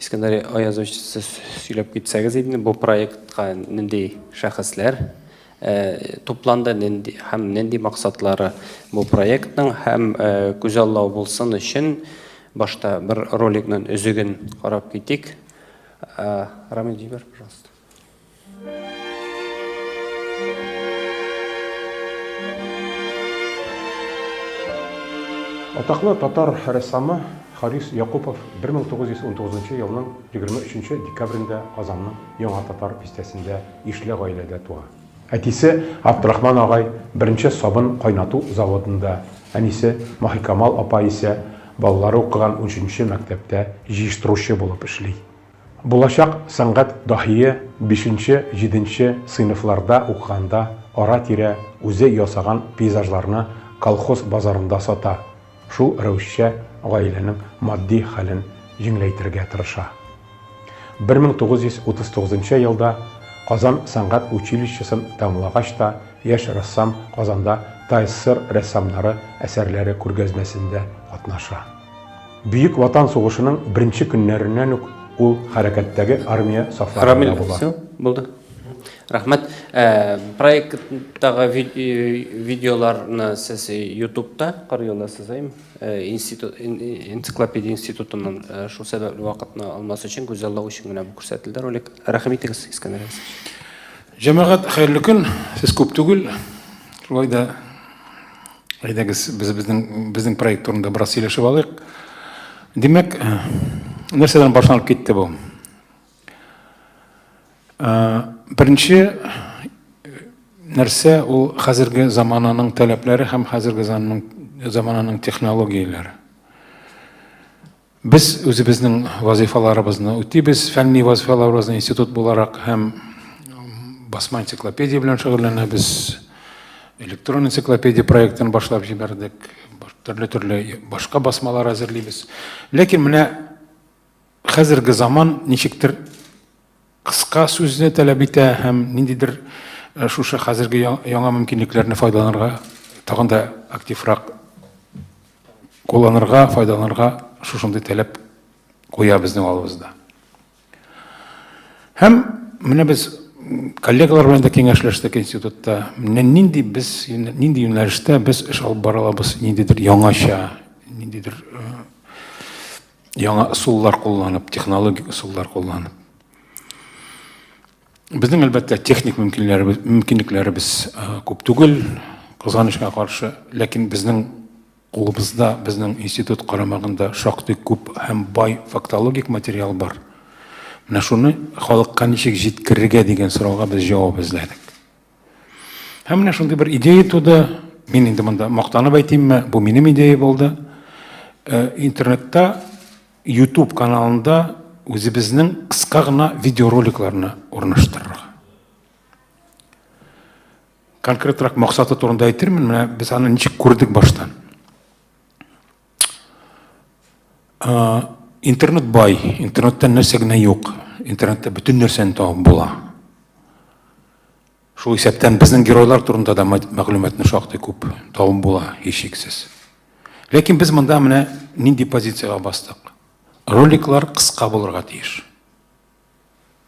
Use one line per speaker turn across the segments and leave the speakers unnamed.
Искәндәр Аязович, сез сөйләп китсәгез инде, бу проектка нинди шәхесләр тупланды, нинди һәм нинди максатлары бу проектның һәм күзаллау булсын өчен башта бер роликның өзеген карап китик. Рамил җибәр, пожалуйста.
Атаклы татар рәссамы Харис Якупов 1919 елның 23 декабрендә Казанның Яңа татар бистәсендә ишле гаиләдә туа. Әтисе Абдрахман агай беренче сабын кайнату заводында, әнисе Маһикамал апа исә балалары укыган унөченче мәктәптә җыештыручы булып эшли. Булачак сәнгать даһие бишенче, җиденче сыйныфларда укыганда ара-тирә үзе ясаган пейзажларны колхоз базарында сата, шул рәвешчә гаиләнең матди хәлен җиңләйтергә тырыша. Бер мең тугыз йөз утыз тугызынчы елда Казан сәнгать училищесын тәмамлагач та, яшь рәссам Казанда ТАССР рәссамнары әсәрләре күргәзмәсендә катнаша. Бөек Ватан сугышының беренче көннәреннән үк ул хәрәкәттәге армия сафларында була. Рамил, булды.
Рәхмәт. Э, проекттагы э, видеоларны сез ютубта карый аласыз, әйме? Э, институт энциклопедия институтыннан шул сәбәпле вакытны алмас өчен гүзәллау өчен генә бу күрсәтелде ролик. Рәхмәт итегез, Искәндәр
Җәмәгать, хәерле көн. Сез күп түгел. Шулай да Әйдәгез, без безнең безнең проект турында бераз сөйләшеп алыйк. Димәк, нәрсәдән башланып китте бу? Беренче нәрсә ул хәзерге замананың таләпләре һәм хәзерге замананың технологияләре. Без үзебезнең вазыйфаларыбызны үтибез, фәнни вазыйфаларыбызны институт буларак һәм басма энциклопедия белән шөгыльләнәбез. Электрон энциклопедия проектын башлап җибәрдек. Төрле-төрле башка басмалар әзерлибез. Ләкин менә хәзерге заман ничектер Кыска сүзне таләп итә һәм ниндидер шушы хәзерге яңа мөмкинлекләрне файдаланырга, тагын да активрак кулланырга, файдаланырга шушындый таләп куя безнең алыбызда. Һәм менә без коллегалар белән дә киңәшләштек институтта. Менә нинди без нинди юнәлештә без эш алып бара алабыз, ниндидер яңача, ниндидер э, яңа ысуллар кулланып, технологик ысуллар кулланып. Безнең әлбәттә техник мөмкинлекләребез, мөмкинлекләребез күп түгел, кызганычка каршы, ләкин безнең кулыбызда, безнең институт карамагында шактый күп һәм бай фактологик материал бар. Менә шуны халыкка ничек җиткерергә дигән сорауга без җавап эзләдек. Һәм менә шундый бер идея туды. Мин инде монда мактанып әйтимме, бу минем идея булды. Э, интернетта YouTube каналында үзебезнең кыска гына видеороликларны урнаштырырга. Конкретрак максаты турында әйтермен, менә без аны ничек күрдек баштан. А, интернет бай, интернеттан нәрсә генә юк. Интернетта бөтен нәрсәне табып була. Шул исәптән безнең геройлар турында да мәгълүматны шактый күп табып була, һичшиксез. Ләкин без монда менә нинди позициягә бастык? Роликлар кыска булырга тиеш.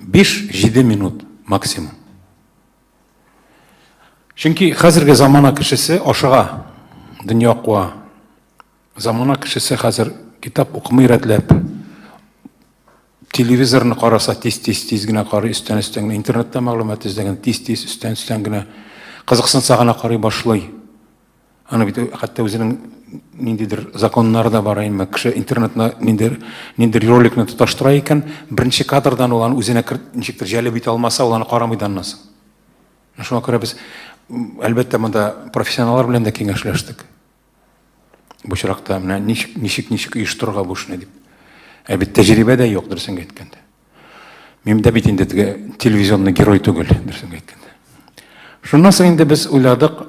5-7 минут максимум. Чөнки хәзерге замана кешесе ашыга, дөнья куа. Замана кешесе хәзер китап укымый рәтләп, телевизорны караса тиз-тиз-тиз генә карый, өстән-өстән генә интернетта мәгълүмат эзләгән тиз-тиз өстән-өстән генә кызыксынса гына карый башлый. Аны бит хәтта үзенең ниндидер законнары да бар инде. Кеше интернетна ниндер ниндер роликны тоташтыра икән, беренче кадрдан ул аны үзенә ничектер җәлеп итә алмаса, ул аны карамый да аннан соң. Шуңа күрә без әлбәттә монда профессионаллар белән дә киңәшләштек. Бу очракта менә ничек ничек ничек оештырырга бу эшне дип. Ә бит тәҗрибә дә юк, дөресен әйткәндә. Мин дә бит инде теге телевизионный герой түгел, дөресен әйткәндә. Шуннан соң инде без уйладык,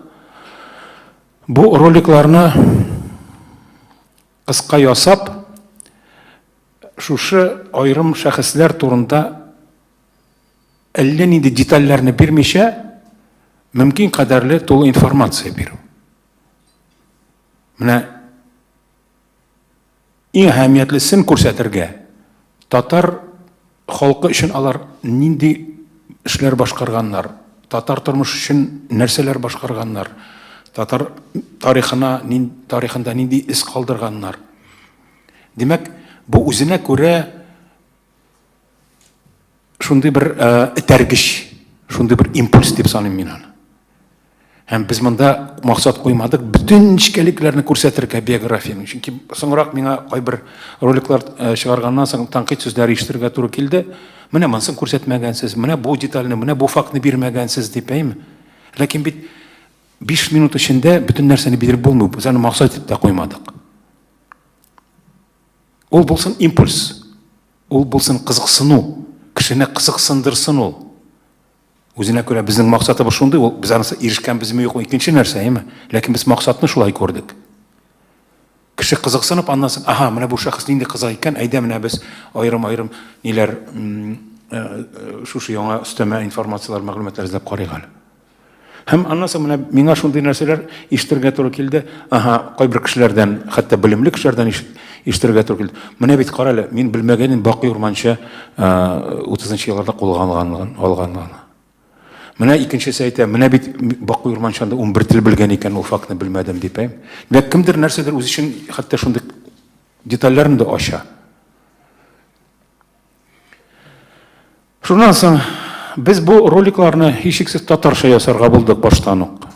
бу роликларны кыска ясап, шушы аерым шәхесләр турында әллә нинди детальләрне бирмичә, мөмкин кадәрле тулы информация бирү. Менә Иң әһәмиятлесен күрсәтергә, татар халкы өчен алар нинди эшләр башкарганнар, татар тормышы өчен нәрсәләр башкарганнар, татар тарихына, тарихында нинди эз калдырганнар. Димәк, бу үзенә күрә Шундый бер этәргеч, шундый бер импульс дип саныйм мин аны. Һәм без монда максат куймадык, бөтен нечкәлекләрне күрсәтергә биографияне. Чөнки соңрак миңа кайбер роликлар чыгарганнан соң танкыйт сүзләр ишетергә туры килде. Менә монысын күрсәтмәгәнсез, менә бу детальне, менә бу фактны бирмәгәнсез дип, әйме? Ләкин бит 5 минут эчендә бөтен нәрсәне биреп булмый, без аны максат итеп тә куймадык. Ул булсын импульс. Ул булсын кызыксыну, кешене кызыксындырсын ул. Үзенә күрә безнең максатыбыз шундый, ул без анысы ирешкәнбезме юкмы икенче нәрсә, әйме? Ләкин без максатны шулай күрдек. Кеше кызыксынып, аннан соң, ага, менә бу шәхес нинди кызык икән, әйдә менә без аерым-аерым ниләр э, э, шушы яңа өстәмә информацияләр, мәгълүматлар эзләп карыйк әле. Һәм аннан соң менә миңа шундый нәрсәләр ишетергә туры килде. Аһа, кайбер кешеләрдән, хәтта белемле кешеләрдән ишетергә туры килде. Менә бит кара әле, мин белмәгәнем Бакый Урманча 30 нчы елларда кулга алганлыгын, алганлыгын. Менә икенчесе әйтә, менә бит Бакый Урманчанда 11 тел белгән икән, ул фактны белмәдем дип. Димәк, кемдер нәрсәдер үз өчен хәтта шундый детальләрен дә ача. Шуннан соң без бу роликларны һичшиксез татарча ясарга булдык баштан ук.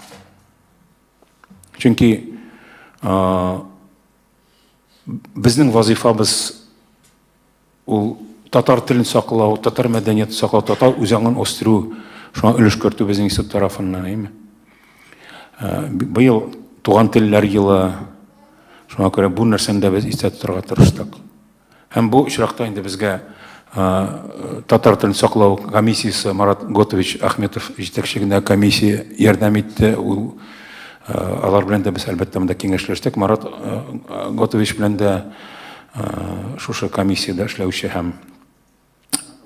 Чөнки безнең вазифабыз ул татар телен саклау, татар мәдәниятен саклау, татар үзаңын үстерү, шуңа өлеш кертү безнең институт тарафыннан, әйме? Ә, быел туган телләр елы, шуңа күрә бу нәрсәне дә без истә тотарга тырыштык. Һәм бу очракта инде безгә татар телен саклау комиссиясе Марат Готович Ахметов җитәкчегенә комиссия ярдәм итте. Ул алар белән дә без әлбәттә монда киңәшләштек. Марат Готович белән дә шушы комиссиядә эшләүче һәм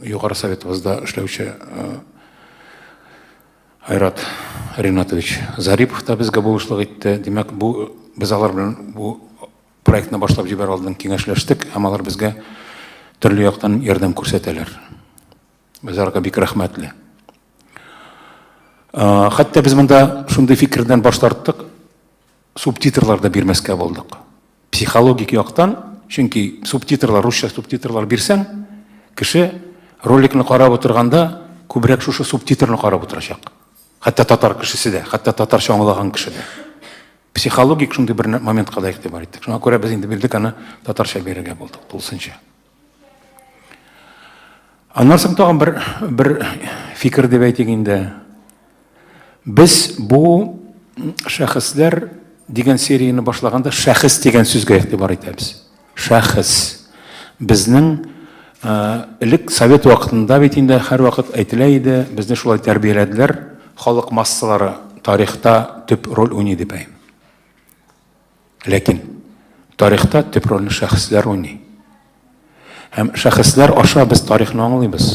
Югары Советыбызда эшләүче Айрат Ринатович Зарипов та безгә булышлык итте. Димәк, бу без алар белән бу проектны башлап җибәр алдын киңәшләштек һәм алар безгә төрле яктан ярдәм күрсәтәләр. Без аларга бик рәхмәтле. Хәтта без монда шундый фикердән баш тарттык. Субтитрлар да бирмәскә булдык. Психологик яктан, чөнки субтитрлар, русча субтитрлар бирсәң, кеше роликны карап утырганда күбрәк шушы субтитрны карап утырачак. Хәтта татар кешесе дә, хәтта татарча аңлаган кеше дә. Психологик шундый бер моментка да игътибар иттек. Шуңа күрә без инде бирдек аны татарча бирергә булдык, тулысынча. Аннан соң тагын бер бер фикер дип әйтик инде. Без бу шәхесләр дигән серияне башлаганда шәхес дигән сүзгә игътибар итәбез. Шәхес. Безнең э, элек совет вакытында бит инде һәрвакыт әйтелә иде, безне шулай тәрбияләделәр, халык массалары тарихта төп роль уйный дип әйтәм. Ләкин тарихта төп рольне шәхесләр уйный. Һәм шәхесләр аша без тарихны аңлыйбыз.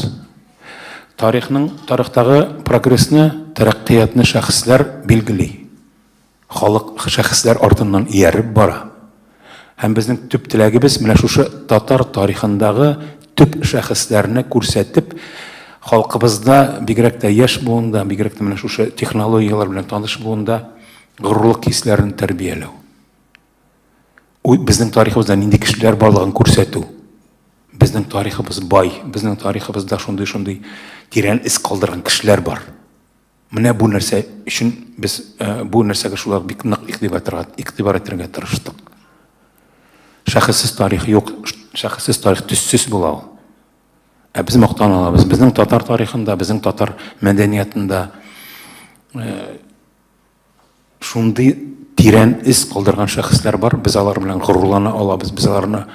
Тарихның тарихтагы прогрессны, тәрәккыятьне шәхесләр билгели. Халык шәхесләр артыннан ияреп бара. Һәм безнең төп теләгебез менә шушы татар тарихындагы төп шәхесләрне күрсәтеп, халкыбызда, бигрәк тә яшь буында, бигрәк тә менә шушы технологияләр белән таныш буында Горурлык хисләрен тәрбияләү. Безнең тарихыбызда нинди кешеләр барлыгын күрсәтү. Безнең тарихыбыз бай, безнең тарихыбызда шундый-шундый тирән эз калдырган кешеләр бар. Менә бу нәрсә өчен без э, бу нәрсәгә шулай бик нык игътибар итәргә тырыштык. Шәхессез тарих юк, шәхессез тарих төссез була ул. Ә без мактан алабыз. Безнең татар тарихында, безнең татар мәдәниятында э, Шундый тирән эз калдырган шәхесләр бар, без алар белән горурлана алабыз, без аларны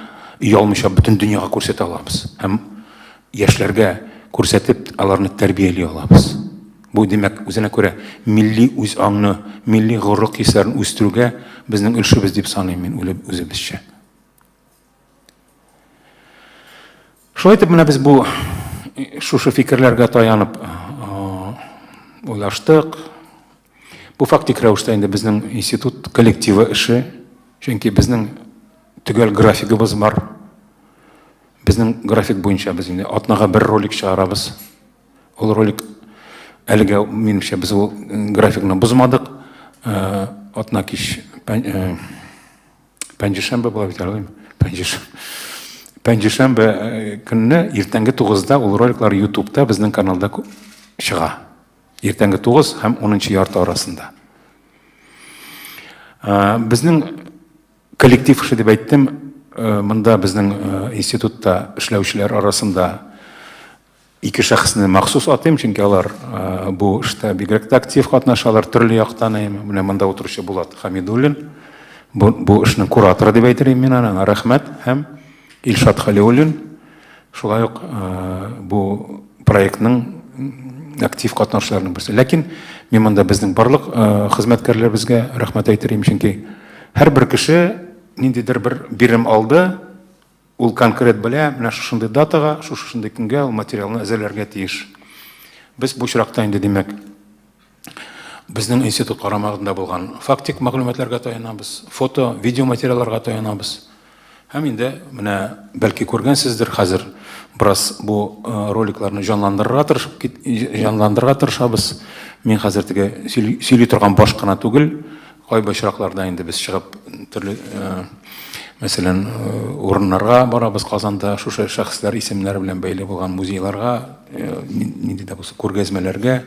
оялмыйча бөтен дөньяга күрсәтә алабыз. Һәм яшьләргә күрсәтеп, аларны тәрбияли алабыз. Бу димәк, үзенә күрә милли үз аңны, милли горурлык хисләрен үстерүгә безнең өлешебез дип саныйм мин үзебезчә. Шулай итеп менә без бу шушы фикерләргә таянып уйлаштык. Бу фактик рәвештә инде безнең институт коллективы эше. Чөнки безнең төгәл графигыбыз бар. Безнең график буенча без инде атнага бер ролик чыгарабыз. Ул ролик әлегә минемчә без ул графикны бозмадык. Атна кич пәнҗешәмбе була бит әле пәнҗеш пәнҗешәмбе э, көнне иртәнге тугызда ул роликлар ютубта безнең каналда чыга иртәнге тугыз һәм унынчы ярты арасында э, безнең коллектив эше дип әйттем э, монда безнең институтта эшләүчеләр арасында Ике шәхесне махсус атыйм, чөнки алар бу эштә бигрәк тә актив катнашалар, төрле яктан. Менә монда утыручы Булат Хәмидуллин, бу, бу эшнең кураторы дип әйтер идем мин аны, аңа рәхмәт, һәм Илшат Хәлиуллин, шулай ук бу проектның актив катнашучыларының берсе. Ләкин мин монда безнең барлык хезмәткәрләребезгә рәхмәт әйтер идем, чөнки һәрбер кеше ниндидер бер бирем алды, Ул конкрет белә, менә шушындый датага, шушындый көнгә ул материалны әзерләргә тиеш. Без бу очракта инде, димәк, безнең институт карамагында булган фактик мәгълүматларга таянабыз, фото, видео материалларга таянабыз. Һәм инде менә бәлки күргәнсездер хәзер бераз бу э, роликларны җанландырырга тырышып җанландырырга тырышабыз. Мин хәзер теге сөйли торган баш кына түгел, Кайбер очракларда инде без чыгып төрле, мәсәлән, урыннарга барабыз Казанда, шушы шәхесләр исемнәре белән бәйле булган музейларга, нинди дә булса күргәзмәләргә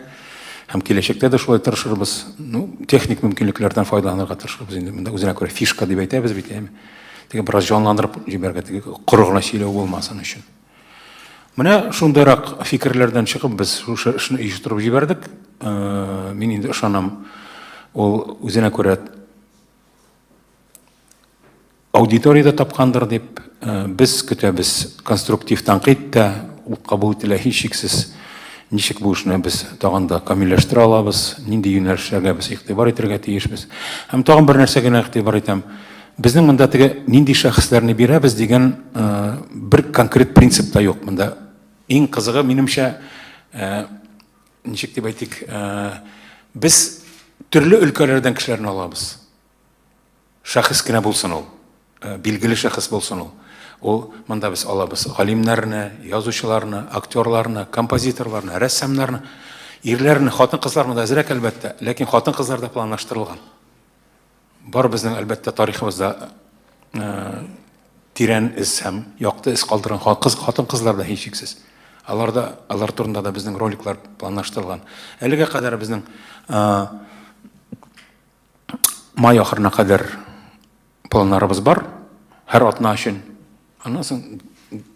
һәм киләчәктә дә шулай тырышырбыз. Ну, техник мөмкинлекләрдән файдаланырга тырышырбыз инде. Монда үзенә күрә фишка дип әйтәбез бит, әйеме? Теге бераз җанландырып җибәрергә, теге коры гына сөйләү булмасын өчен. Менә шундыйрак фикерләрдән чыгып без шушы эшне оештырып җибәрдек. Э, мин инде ышанам, ул үзенә күрә аудиторияда тапкандыр дип, э, без көтәбез конструктив тәнкыйть тә, ул кабул ителә һичшиксез. Ничек бу эшне без тагын да камилләштерә алабыз, нинди юнәлешләргә без игътибар итәргә тиешбез. Һәм тагын бер нәрсә генә игътибар итәм. Безнең монда теге нинди шәхесләрне бирәбез дигән бер конкрет принцип та юк монда. Иң кызыгы минемчә ничек дип әйтик, без төрле өлкәләрдән кешеләрне алабыз. Шәхес кенә булсын ул, билгеле шәхес булсын ул. Ул монда без алабыз галимнәрне, язучыларны, актерларны, композиторларны, рәссамнарны, ирләрне, хатын-кызлар монда әзрәк әлбәттә, ләкин хатын-кызлар да планлаштырылган. Барыбызның, әлбәттә, тарихыбызда э, тирән эз һәм якты эз калдырган кыз, хатын-кызлар да һичшиксез. Алар да алар турында да безнең роликлар планлаштырылган. Әлегә кадәр безнең э, май ахырына кадәр планнарыбыз бар. Һәр атна өчен Аннан соң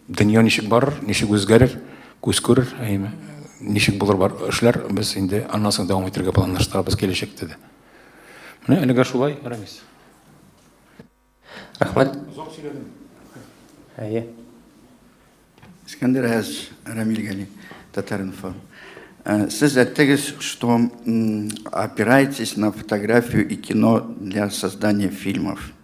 дөнья ничек барыр, ничек үзгәрер, күз күрер, әйме, ничек булыр бар эшләр, без инде аннан соң дәвам итәргә планлаштырабыз киләчәктә дә. Менә әлегә шулай, Рамис.
Рәхмәт. Озак сөйләдем. Әйе.
Искәндер Әз, Рамил Гали, Татаринфо. Э, сез әттегез, что опираетесь на фотографию и кино для создания фильмов.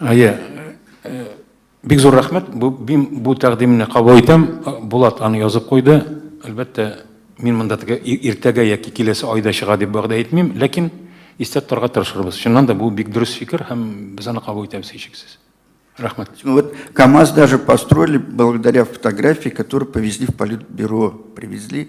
Әйе, э, бик зур рәхмәт. Бу, бу тәкъдимне кабул итәм. Булат аны язып куйды. Әлбәттә, мин монда теге иртәгә яки киләсе айда чыга дип вәгъдә итмим, ләкин истә тотарга тырышырбыз. Чыннан да бу бик дөрес фикер һәм без аны кабул итәбез һичшиксез. Рәхмәт. Ну вот КАМАЗ
даже построили благодаря фотографии, которую повезли в политбюро, привезли.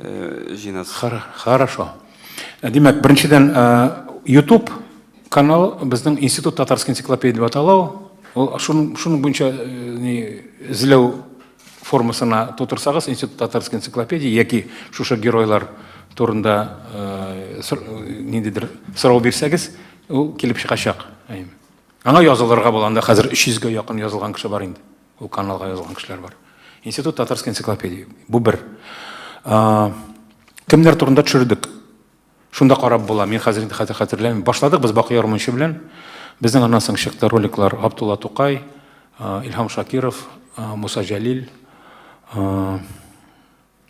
Җыйнас. Хорошо.
Димәк, беренчедән, ютуб канал безнең Институт татарской энциклопедии дип атала ул. Ул шуның буенча эзләү формасына тутырсагыз, Институт татарской энциклопедии яки шушы геройлар турында ниндидер сорау бирсәгез, ул килеп чыгачак. Аңа язылырга була, анда хәзер 300 гә якын язылган кеше бар инде. Ул каналга язылган кешеләр бар. Институт татарской энциклопедии. Бу бер. Кемнәр турында төшердек? Шунда карап була. Мин хәзер инде хәтер хәтерләмим. Башладык без Бакый Ярмунчы белән. Безнең аннан соң чыкты роликлар Абдулла Тукай, Илһам Шакиров, Муса Җәлил,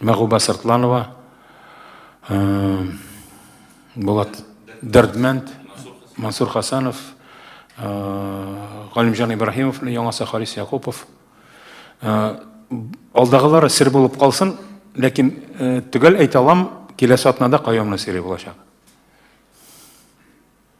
Мәгуба Сыртланова, э, Булат Дәрдмәнд, Мансур Хасанов, э, Галимҗан Ибраһимов, яңасы Харис Якупов. Э, алдагылары сер булып калсын, ләкин төгәл әйтә алам, киләсе атнада Каюмның сире булачак.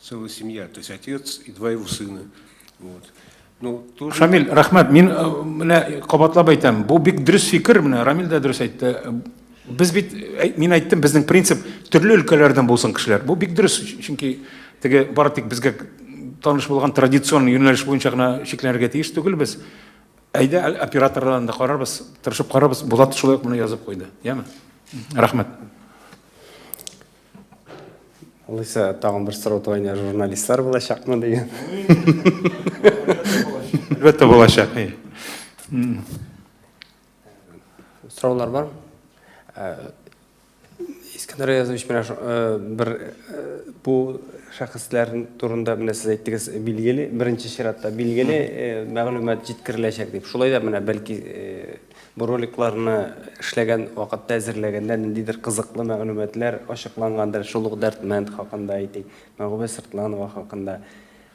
Целая семья, то есть отец и два его сына. Вот. Ну, тоже... Шамиль, рахмат, мин э,
менә кабатлап әйтәм, бу бик дөрес фикер, менә Рамил дә дөрес әйтте. Без бит, э, мин әйттем, безнең принцип төрле өлкәләрдән булсын кешеләр. Бу бик дөрес, чөнки теге бары тик безгә таныш булган традицион юнәлеш буенча гына шикләнергә тиеш түгел без. Әйдә операторлардан да карарбыз, тырышып карарбыз. Булат шулай ук моны язып куйды. Яме? Рахмат.
Алайса, тагын бер сорау туганда журналистлар булачакмы дигән.
Әлбәттә булачак.
Сораулар бар? Искәндәр Аязович, менә бер бу шәхесләр турында менә сез әйттегез, билгеле, беренче чиратта билгеле мәгълүмат җиткереләчәк дип. Шулай да менә бәлки Бу роликларны эшләгән вакытта, әзерләгәндә ниндидер кызыклы мәгълүматлар ачыклангандыр, шул ук Дәрдмәнд хакында әйтик, Мәгүбә Сыртланова хакында.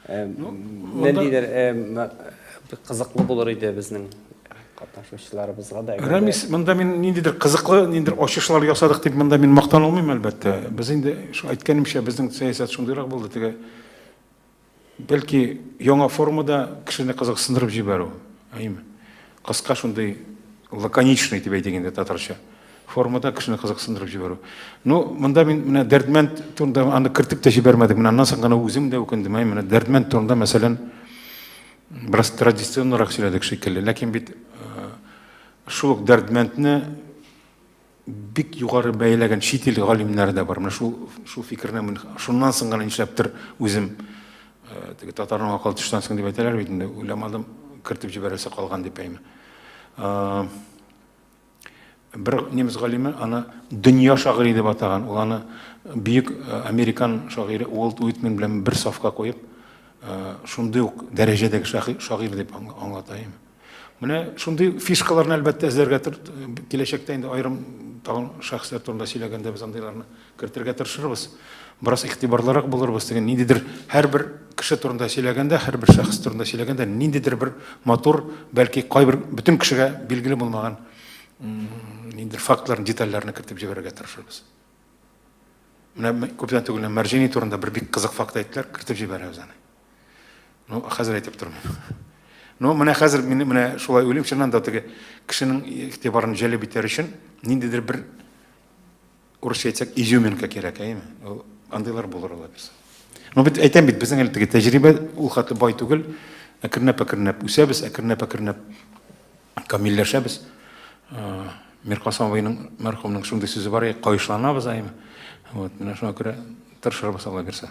Э, ну, ниндидер э, кызыклы булыр иде безнең катнашучыларыбызга да рәмис монда мин
ниндидер кызыклы ниндидер ачышлар ясадык дип монда мин мактана алмыйм әлбәттә без инде әйткәнемчә безнең сәясәт шундыйрак булды теге Бәлки яңа формада кешене кызыксындырып җибәрү, әйеме? Кыска шундый лаконичный дип әйтик инде татарча формада кешене кызыксындырып җибәрү. Ну, монда мин менә Дәрдмәнд турында аны кертеп тә җибәрмәдек. Менә аннан соң гына үзем дә үкендем. Әй, менә Дәрдмәнд турында, мәсәлән, бераз традиционнарак сөйләдек шикелле. Ләкин бит э, шул ук Дәрдмәндне бик югары бәяләгән чит ил галимнәре дә бар. Менә шул шул фикерне мин шуннан соң гына нишләптер үзем э, теге татарның акыл төштән соң дип әйтәләр бит инде, уйламадым, кертеп җибәрәсе калган дип әйме. Э, бер немец галиме аны дөнья шагыйре дип атаган. Ул аны бөек э, американ шагыйре Уолт Уитмен белән бер сафка куеп, шундый ук дәрәҗәдәге шагыйрь дип аңлата Менә шундый фишкаларны әлбәттә эзләргә киләчәктә инде аерым тагын шәхесләр турында сөйләгәндә без андыйларны кертергә тырышырбыз. Бераз игътибарлырак булырбыз дигән ниндидер һәрбер кеше турында сөйләгәндә, һәрбер шәхес турында сөйләгәндә ниндидер бер матур, бәлки кайбер бөтен кешегә билгеле булмаган ниндидер фактларны, детальләрне кертеп җибәрергә тырышырбыз. Менә күптән түгел Мәрҗани турында бер бик кызык факт әйттеләр, кертеп җибәрәбез аны. Ну, хәзер әйтеп тормыйм. Ну, менә хәзер мин менә шулай уйлыйм, чыннан да теге кешенең игътибарын җәлеп итәр өчен ниндидер бер урысча әйтсәк, изюминка кирәк, әйеме? Ул андыйлар булыр ала бирсә. Ну, бит әйтәм бит, безнең әле теге тәҗрибә ул хәтле бай түгел. Әкренләп-әкренләп үсәбез, әкренләп-әкренләп камилләшәбез. Э, Миркасым абыйның мәрхүмнең шундый сүзе бар, кайышланабыз, әйеме? Вот, менә шуңа күрә тырышырбыз ала бирсә.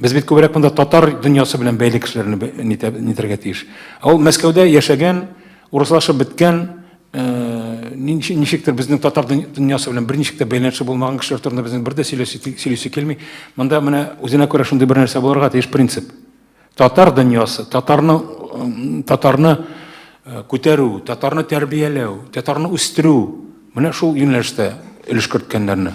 Без бит күбрәк монда татар дөньясы белән бәйле кешеләрне нитәргә тиеш. Ә ул Мәскәүдә яшәгән, урыслашып беткән, э, ничектер безнең татар дөньясы белән берничек тә бәйләнеше булмаган кешеләр турында безнең бер дә сөйлисе килми. Монда менә үзенә күрә шундый бер нәрсә булырга тиеш принцип. Татар дөньясы, татарны татарны э, күтәрү, татарны тәрбияләү, татарны үстерү, менә шул юнәлештә өлеш керткәннәрне.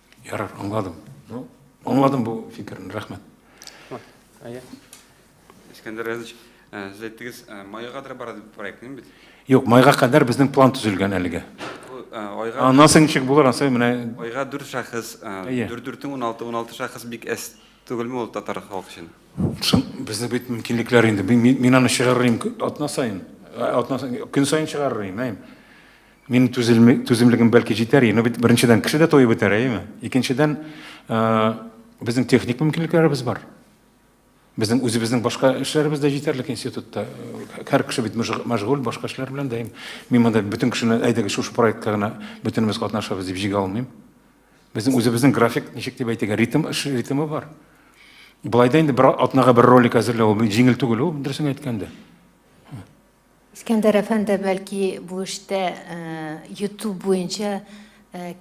Ярар,
аңладым. Ну, аңладым бу фикерне, рәхмәт. Әйе.
Искәндәр Рәзич, э, сез әйттегез, э, майга кадәр бара дип проектның бит. Юк, майга кадәр
безнең план төзелгән әлегә. Э, айга Аннан соң ничек булыр, ансы менә айга 4 шәхес,
4-4-ң 16, 16 шәхес бик әс түгелме ул татар халкы өчен? Шын, безнең бит
мөмкинлекләр инде. Мин, мин аны чыгарырым атна сайын. Атна сайын, көн сайын чыгарырым, әйм. Минем түзелме, түземлегем бәлки җитәр иде, но бит беренчедән кеше дә туеп бетәр, әйеме? Икенчедән, э, безнең техник мөмкинлекләребез бар. Безнең үзебезнең башка эшләребез дә җитәрлек институтта. Һәр кеше бит мөж- мәшгуль башка эшләр белән дә. Мин монда бөтен кешене әйдәгез шушы проектка гына бөтенебез катнашабыз дип җигә алмыйм. Безнең үзебезнең график ничек дип әйтергә, ритм эш ритмы бар. Былай да инде бер атнага бер ролик әзерләү ул бит җиңел түгел ул, дөресен әйткәндә. Искәндәр
әфәнде, бәлки, бу эштә YouTube буенча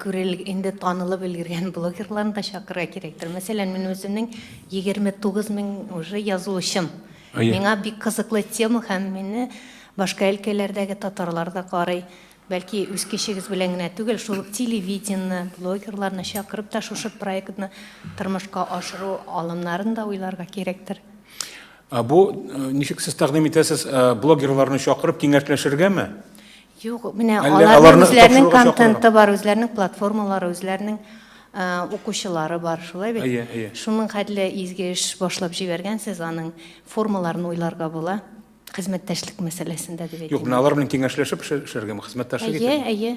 күрелеп, инде танылып өлгергән блогерларны да чакырырга кирәктер. Мәсәлән, мин үземнең 29 мең уже язылучым. Миңа бик кызыклы тема һәм мине башка өлкәләрдәге татарлар да карый. Бәлки, үз кешегез белән генә түгел, шул телевидение, блогерларны чакырып та шушы проектны тормышка ашыру алымнарын да уйларга кирәктер. Ә бу
ничек сез тәкъдим итәсез, блогерларны чакырып киңәшләшергәме? Юк,
менә аларның үзләренең контенты бар, үзләренең платформалары, үзләренең укучылары бар, шулай бит? Әйе, әйе. Шуның хәтле изге эш башлап җибәргәнсез, аның формаларын уйларга була. Хезмәттәшлек мәсьәләсендә дип әйтәм. Юк, менә алар белән киңәшләшеп
эшләргәме, хезмәттәшлек итәргә? Әйе, әйе.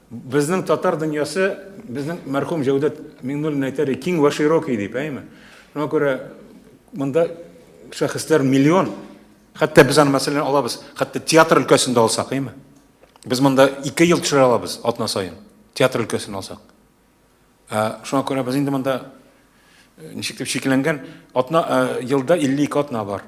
Безнең татар дөньясы, безнең мәрхүм Җәүдәт Миңнуллин әйтәр иде, киң вә широкий дип, әйме? Шуңа күрә монда шәхесләр миллион. Хәтта без аны мәсәлән алабыз, хәтта театр өлкәсендә алсак, әйме? Без монда 2 ел төшерә алабыз атна саен, театр өлкәсен алсак. Ә, шуңа күрә без инде монда ничек дип шикләнгән, атна елда 52 атна бар.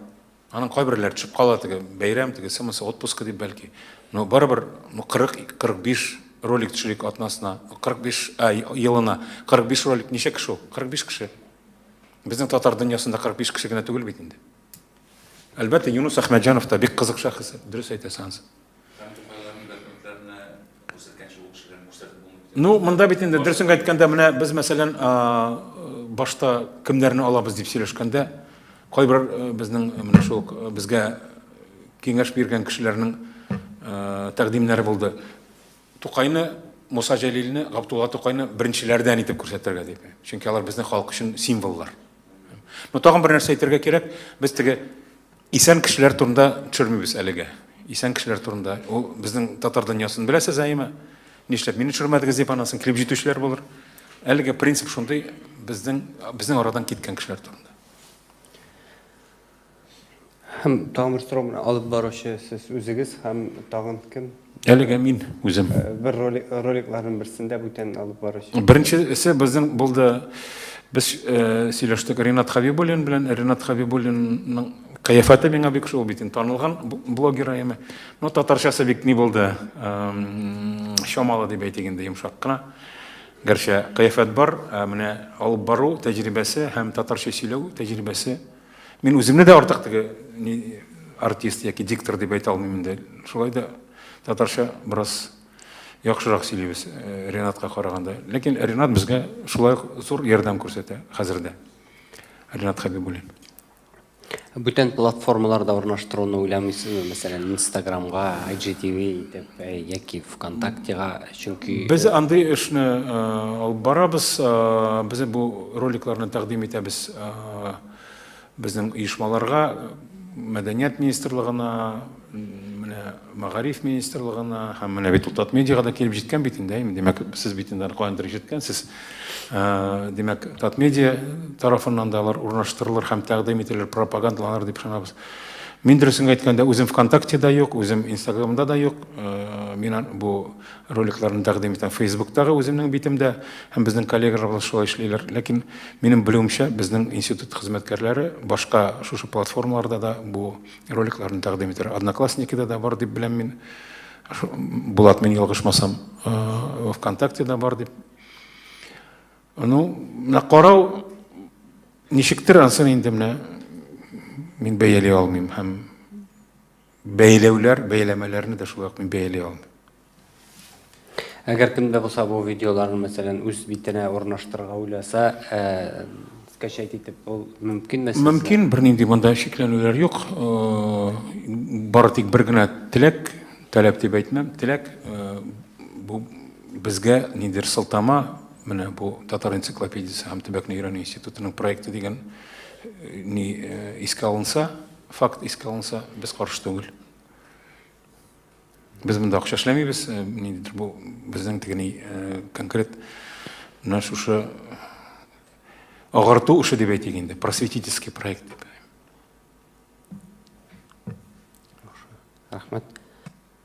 Аның кайберләре төшеп кала, теге бәйрәм, тегесе, монысы отпуска дип бәлки. Но барыбер, ну 40-45 ролик төшерик атнасына, 45 а, елына. 45 ролик ничә кеше ул? 45 кеше. Безнең татар дөньясында 45 кеше генә түгел бит инде. Әлбәттә, Юнус Әхмәтҗанов та бик кызык шәхес, дөрес әйтәсең. Ну, монда бит инде дөресен әйткәндә, менә без мәсәлән, башта кемнәрне алабыз дип сөйләшкәндә, кайбер безнең менә шул безгә киңәш биргән кешеләрнең тәкъдимнәре булды. Тукайны, Муса Җәлилне, Габдулла Тукайны беренчеләрдән итеп күрсәтергә дип. Чөнки алар безнең халык өчен символлар. Ну, тагын бер нәрсә әйтергә кирәк, без теге Исән кешеләр турында төшермибез әлегә. Исән кешеләр турында. Ул безнең татар дөньясын беләсез әйеме? Нишләп мине төшермәдегез дип анасын килеп җитүчеләр булыр. Әлеге принцип шундый, безнең безнең арадан киткән кешеләр турында.
Һәм тагын бер сорау алып баручы сез үзегез һәм тагын кем? Әлегә мин
үзем. Э, бер ролик,
роликларның берсендә бүтән алып баручы. Беренчесе безнең
булды. Без э, сөйләштек Ренат Хабибуллин белән. Ренат Хабибуллинның кыяфәте миңа бик шул бит танылган блогер әйме. Но татарчасы бик ни булды? Эм, чамалы дип әйтик инде йомшак кына. Гәрчә кыяфәт бар, ә менә алып бару тәҗрибәсе һәм татарча сөйләү тәҗрибәсе Мин үземне дә артык теге артист яки диктор дип әйтә алмыйм инде. Шулай да татарча бераз яхшырак сөйлибез э, Ренатка караганда. Ләкин Ренат безгә шулай ук зур ярдәм күрсәтә хәзер дә. Ренат Хәбибуллин.
Бүтән платформаларда урнаштыруны уйламыйсызмы? Мәсәлән, Инстаграмга, IGTV итеп, э, яки ВКонтактега Чөнки без э, андый эшне
э, алып барабыз, э, без бу роликларны тәкъдим итәбез безнең оешмаларга, мәдәният министрлыгына, менә мәгариф министрлыгына һәм менә бит Утат медиага да килеп җиткән бит инде, димәк, сез бит инде каяндыр ишеткәнсез. Димәк, Татмедиа тарафыннан да алар урнаштырылыр һәм тәкъдим ителер, пропагандаланыр дип ышанабыз. Мин дөресен әйткәндә, үзем ВКонтактеда юк, үзем Инстаграмда да юк. Э, мин бу роликларны тәкъдим итәм Фейсбуктагы үземнең битемдә һәм безнең коллегаларыбыз шулай эшлиләр. Ләкин минем белүемчә, безнең институт хезмәткәрләре башка шушы платформаларда да бу роликларны тәкъдим итәләр. Одноклассникида да бар дип беләм мин. Булат, мин ялгышмасам, э, ВКонтактеда бар дип Ну, менә карау ничектер ансын инде менә мин бәяли алмыйм һәм бәйләүләр, бәйләмәләрне дә шулай ук мин бәяли алмыйм. Әгәр
кемдә булса бу видеоларны, мәсәлән, үз битенә урнаштырырга уйласа, э, скачать итеп, ул мөмкинме сезгә? Мөмкин, бернинди
монда шикләнүләр юк. Э, бары тик бер генә теләк, таләп дип әйтмәм, теләк э, бу безгә ниндидер сылтама Менә бу Татар энциклопедиясе һәм төбәкне өйрәнү институтының проекты дигән э, ни э, искә алынса, факт искә алынса, без каршы түгел. Без монда акча эшләмибез, э, ниндидер бу безнең тегени конкрет менә шушы агарту эше дип әйтик инде, просветительский проект дип. Рәхмәт.